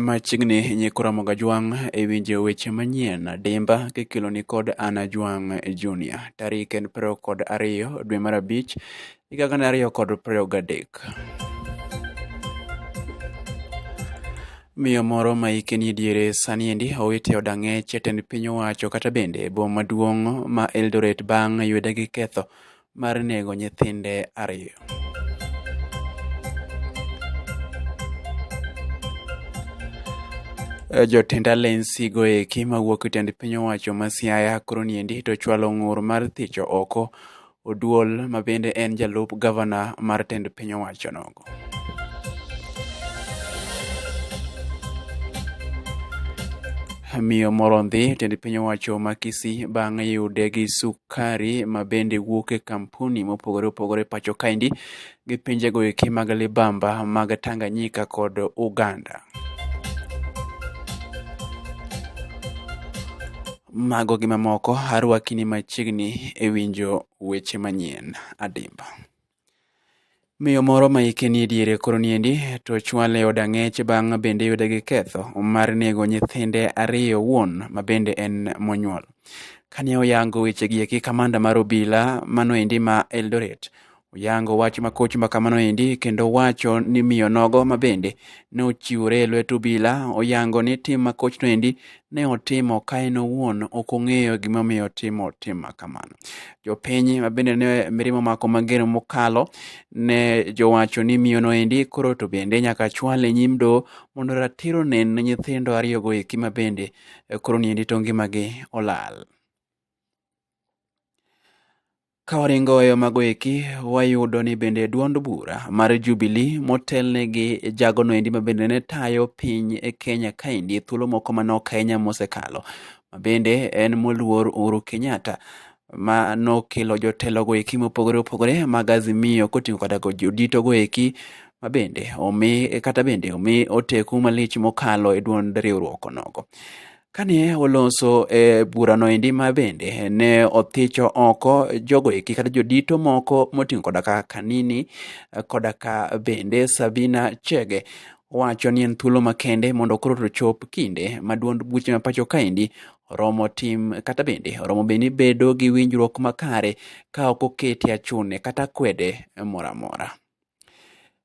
Machiegni nyikora moga jwang' e winjo weche manyien dimba kikelo ni kod Ana Jwang' Junior. Tarik en piero kod ariyo dwe mar abich higa gana ariyo kod piero gadek. Miyo moro ma hike ni diere sani endi owit e od ang'ech e tend piny owacho kata bende e boma maduong' ma Eldoret bang' yude gi ketho mar nego nyithinde ariyo. Jotend alensi goeki mawuok e tend piny owacho ma Siaya koro niendi to chwalo ng'ur mar thicho oko Oduol ma bende en jalup gavana mar tend piny owachono. miyo moro ndhi tend piny owacho ma Kisii bang' yude gi sukari ma bende wuok e kampuni mopogore opogore pacho kaendi gi pinjego eki mag libamba mag Tanganyika kod Uganda. Mago gi mamoko arwakini machiegni e winjo weche manyien adimba. Miyo moro ma hike nie diere koro niendi to chwale od ang'ech bang' bende yude gi ketho mar nego nyithinde ariyo owuon ma bende en monyuol. Kane oyango wechegi eki kamanda mar obila mano endi ma Eldoret oyango wach makoch ma kamano endi kendo wacho ni miyo nogo ma bende ne ochiwore e lwet obila oyango ni tim makochno endi ne otimo ka en owuon ok ong'eyo gimomiyo otimo tim ma kamano. Jopiny ma bende ne mirima omako mager mokalo ne jowacho ni miyono endi koro to bende nyaka chwale e nyim doho mondo ratiro onen ne nyithindo ariyogo eki ma bende eh, koro ni endi to ngimagi olal. Ka waringo e yo mago eki, wayudo ni bende duond bura mar Jubilee motelne gi jagono endi ma bende ne tayo piny e Kenya kaendi e thuolo moko manok ahinya mosekalo, ma bende en moluor Uhuru Kenyatta ma nokelo jotelogo eki mopogore opogore mag Azimio koting'o kata go joditogo eki ma bende omi kata bende omi oteku malich mokalo e duond riwruok onogo. Kane oloso e burano endi ma bende ne othicho oko jogo eki kata jodito moko moting'o koda ka Kanini koda ka bende Sabina Chege wacho ni en thuolo makende mondo koro to chop kinde ma duond buche ma pacho kaendi oromo tim kata bende oromo bende bedo gi winjruok makare ka ok okete achune kata kwede moro amora.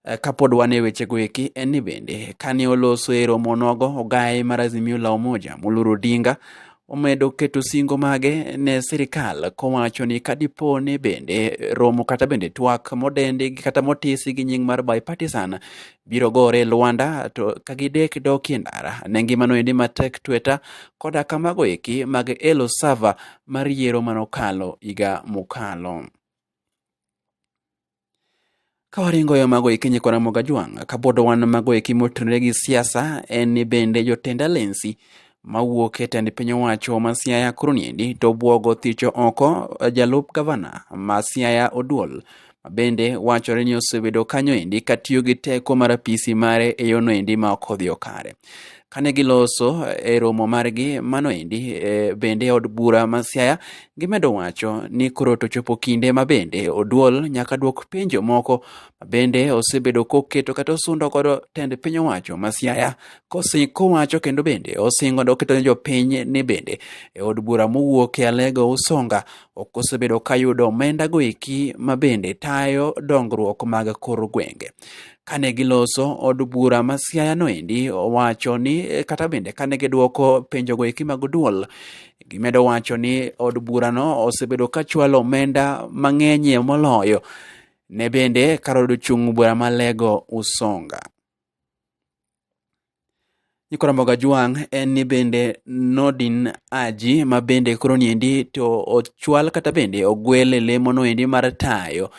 Eh, kapod wan e wechego eki en ni bende kane oloso e romo nogo ogaye mar Azimio la Umoja Muluru Odinga omedo keto singo mage ne sirikal kowacho ni kadipo ni bende romo kata bende twak modendi kata motisi gi nying mar bipartisan biro gore Luanda to ka gidek dok e ndara ne ngimano endi matek tweta koda kamago eki mag Elo Sava mar yiero manokalo higa mokalo. Kawaringo yo mago eki nyikwa Ramogi Ajwang', kabodo wan mago eki motenore gi siasa en ni bende jotend alensi mawuok e tend piny owacho ma Siaya koro niendi to obwogo thicho oko jalup gavana ma Siaya Oduol mabende wachore ni osebedo kanyo endi katiyo gi teko mar apisi mare e yono endi ma ok odhiyo kare. kane giloso e romo margi mano endi e, bende od bura ma Siaya gimedo wacho ni koro to chopo kinde ma bende oduol nyaka dwok penjo moko ma bende osebedo koketo kata osundo godo tend piny owacho ma Siaya kowacho kendo bende osingo oketo ne jopiny ni bende e od bura mowuok e Alego Usonga ok osebedo kayudo omenda goeki ma bende tayo dongruok mag kor gwenge kane giloso od bura ma Siaya noendi owacho ni eh, kata bende kane gidwoko penjogo eki mag duol gimedo wacho ni od burano osebedo ka chwalo omenda mang'enyie moloyo ne bende kar od chung' bura ma Lego Usonga. Nyikwa Mboga Jwang' en ni bende Nordin Haji ma bende koro niendi to ochwal kata bende ogwel e lemo noendi mar tayo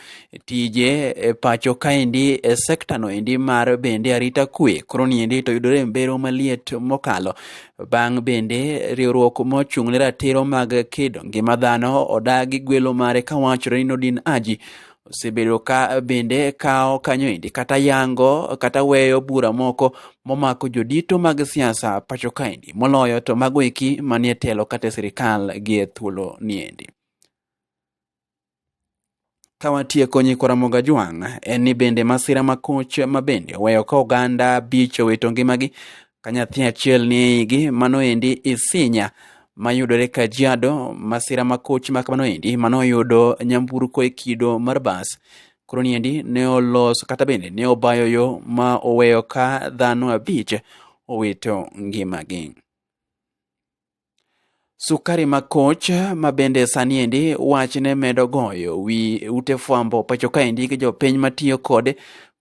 tije e pacho kaendi e sekta noendi mar bende arita kwe koro niendi to yudore e mbero maliet mokalo bang' bende riwruok mochung' ne ratiro mag kedo ngima dhano odagi gwelo mare kawachore ni Nordin Haji osebedo ka bende kawo kanyo endi kata yango kata weyo bura moko momako jodito mag siasa pacho kaendi moloyo to mago eki manie telo kata e sirikal gi e thuolo niendi ka watieko nyikwa Ramogi Ajwang' en ni bende masira makoch ma bende oweyo ka oganda bich owito ngimagi Ka nyathi achiel ni e igi, mano endi isinya mayudore Kajiado, masira makoch ma kamano endi mano oyudo nyamburko e kido mar bas. Koro ni endi ne oloso kata bende ne obayo yo ma oweyo ka dhano abich owito ngimagi. Sukari Makoch ma bende sani endi wachne medo goyo wi ute fwambo pacho kaendi gi jopiny matiyo kode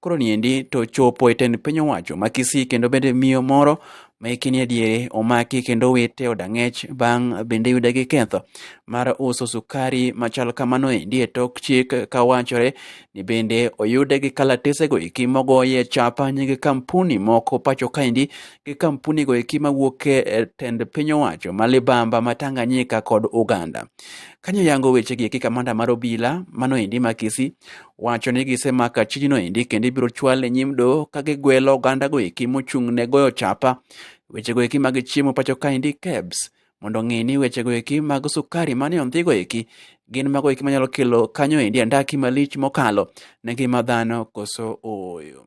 koro niendi to chopo e tend piny owacho ma Kisii kendo bende miyo moro ma hike ni adiere omaki kendo wite e od ang'ech bang' bende yude gi ketho mar uso sukari machal kamano endi e tok chik ka wachore ni bende oyude gi kalatesego eki mogoye chapa nying kampuni moko pacho kaendi gi kampuni go eki mawuok e e tend piny owacho ma libamba ma Tanganyika kod Uganda. Kanyo yango weche gi eki kamanda mar obila mano endi ma Kisii wacho ni gisemako achijno endi kendo ibiro chwal e nyim doho ka gigwelo oganda go eki mochung' ne goyo chapa weche go eki mag chiemo pacho ka endi KEBS mondo ong'e ni weche go eki mag sukari mane ondhi go eki gin mago eki manyalo kelo kanyo endi andaki malich mokalo ne ngima dhano koso ooyo.